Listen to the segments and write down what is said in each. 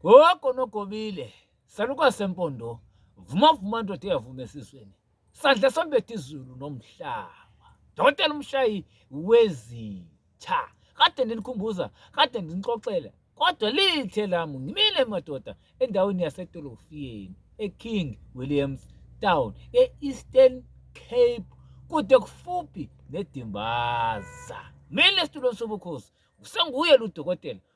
Gogo nogobile salukazi sempondo vuma vuma ndoda eyavuma esizweni sandla sombetha izulu nomhlaba dokotela umshayi wezitha kade ndinikhumbuza kade ndinixoxela kodwa lithe lami ngimile madoda endaweni yasedolofiyeni eking williams town e-eastern cape kude kufuphi nedimbaza mina esitulweni sobukhosi usenguye ludokotela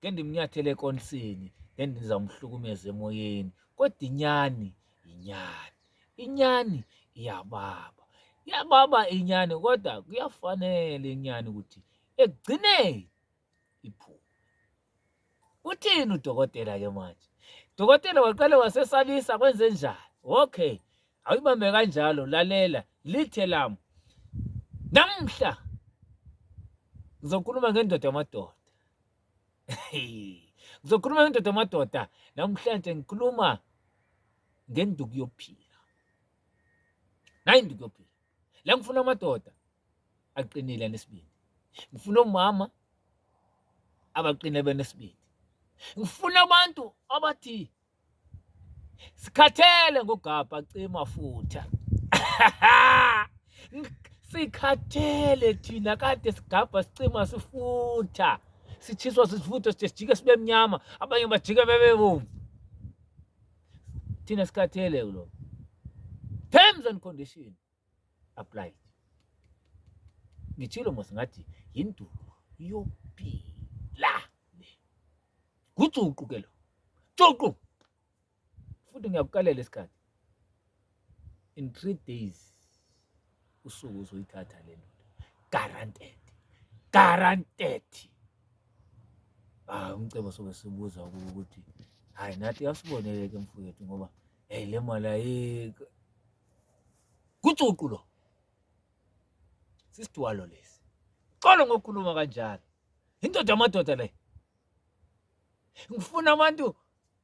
Ngendimnyathele ekonsini, ngendizamhlukumeza emoyeni. Kodwa inyani yinyani. Inyani iyababa. Iyababa inyani kodwa kuyafanele inyani ukuthi ekugcineni iphume. Uthini udokotela ke manje? Dokotela waqale wasesabisa kwenze njani? Okay. Awuyibambe kanjalo lalela lithe lami. Namhla ngizokhuluma ngendoda yamadoda. ngizokhuluma ngendoda amadoda namhlanje ngikhuluma ngenduku yokuphila nayi induku yokuphila la ngifuna amadoda aqinile anesibindi ngifuna omama abaqine benesibindi ngifuna abantu abathi sikhathele ngogabha cima futha sikhathele thina kade sigabha sicima sifutha sitshiswa sisifutha sithe sijike sibe mnyama abanye bajike bebe bomvu thina sikhathele kulo terms and conditions applied ngithilo mos ngathi yindulo yophila gujuqu ke lo juqu futhi ngiyakukalela isikhathi in three days usuku uzoyithatha le ndoda guaranteed guaranteed ah umcebo soke sibuza ukuthi hayi nathi asiboneleke mfowethu ngoba hey le mali ayikho Kucucu lo. Sisidwalo lesi. Xolo ngokukhuluma kanjalo. Indoda amadoda le. Ngifuna abantu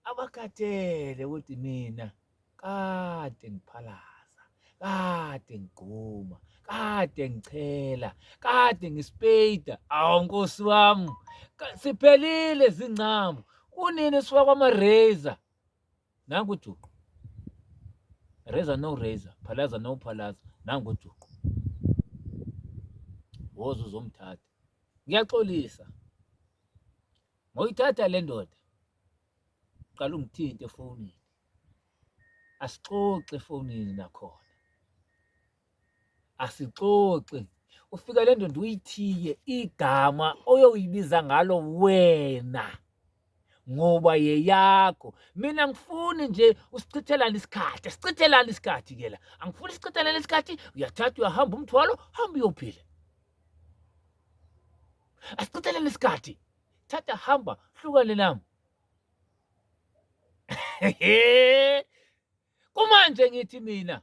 abakhathele ukuthi mina kade ngiphalaza, kade ngigquma, kade ngichela, kade ngispeyida. Awu nkosi wami. Siphelile zingcamu. Kunini siwa kwama-razor? nangu ujuqu reza no reza phalaza no phalaza nangu ujuqu woza uzomthatha ngiyaxolisa ngoyithatha le ndoda qala ungithinte efonini asixoxe efonini nakhona asixoxi ufika le ndoda uyithiye igama oyoyibiza ngalo wena ngoba yeyakho mina ngifuni nje usichithelane isikhathi sichithelane isikhathi ke la angifuni sichithelane isikhathi uyathatha uyahamba umthwalo hamba uyophila asichithelane isikhathi thatha hamba hlukane nami kumanje ngithi mina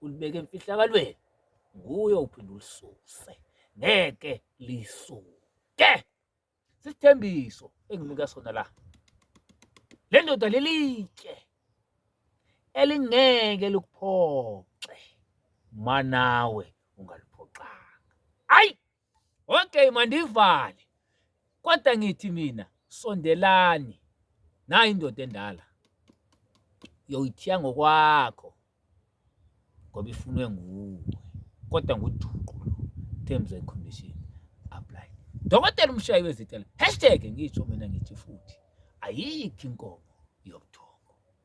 ulibeka emfihlakalweni nguye uphinde ulisuse ngeke lisuke sisithembiso enginika sona la le ndoda lelitshe elingeke likuphoxe manawe ungaliphoxanga ayi Okay mandivale. Kodwa ngithi mina sondelani. Nayi indoda endala. Yoyithiya ngokwakho. Ngoba ifunwe nguwe. Kodwa nguduqu lo. Terms and conditions apply. Dokotela umshayi wezitela. Hashtag ngisho mina ngithi futhi ayikho inkomo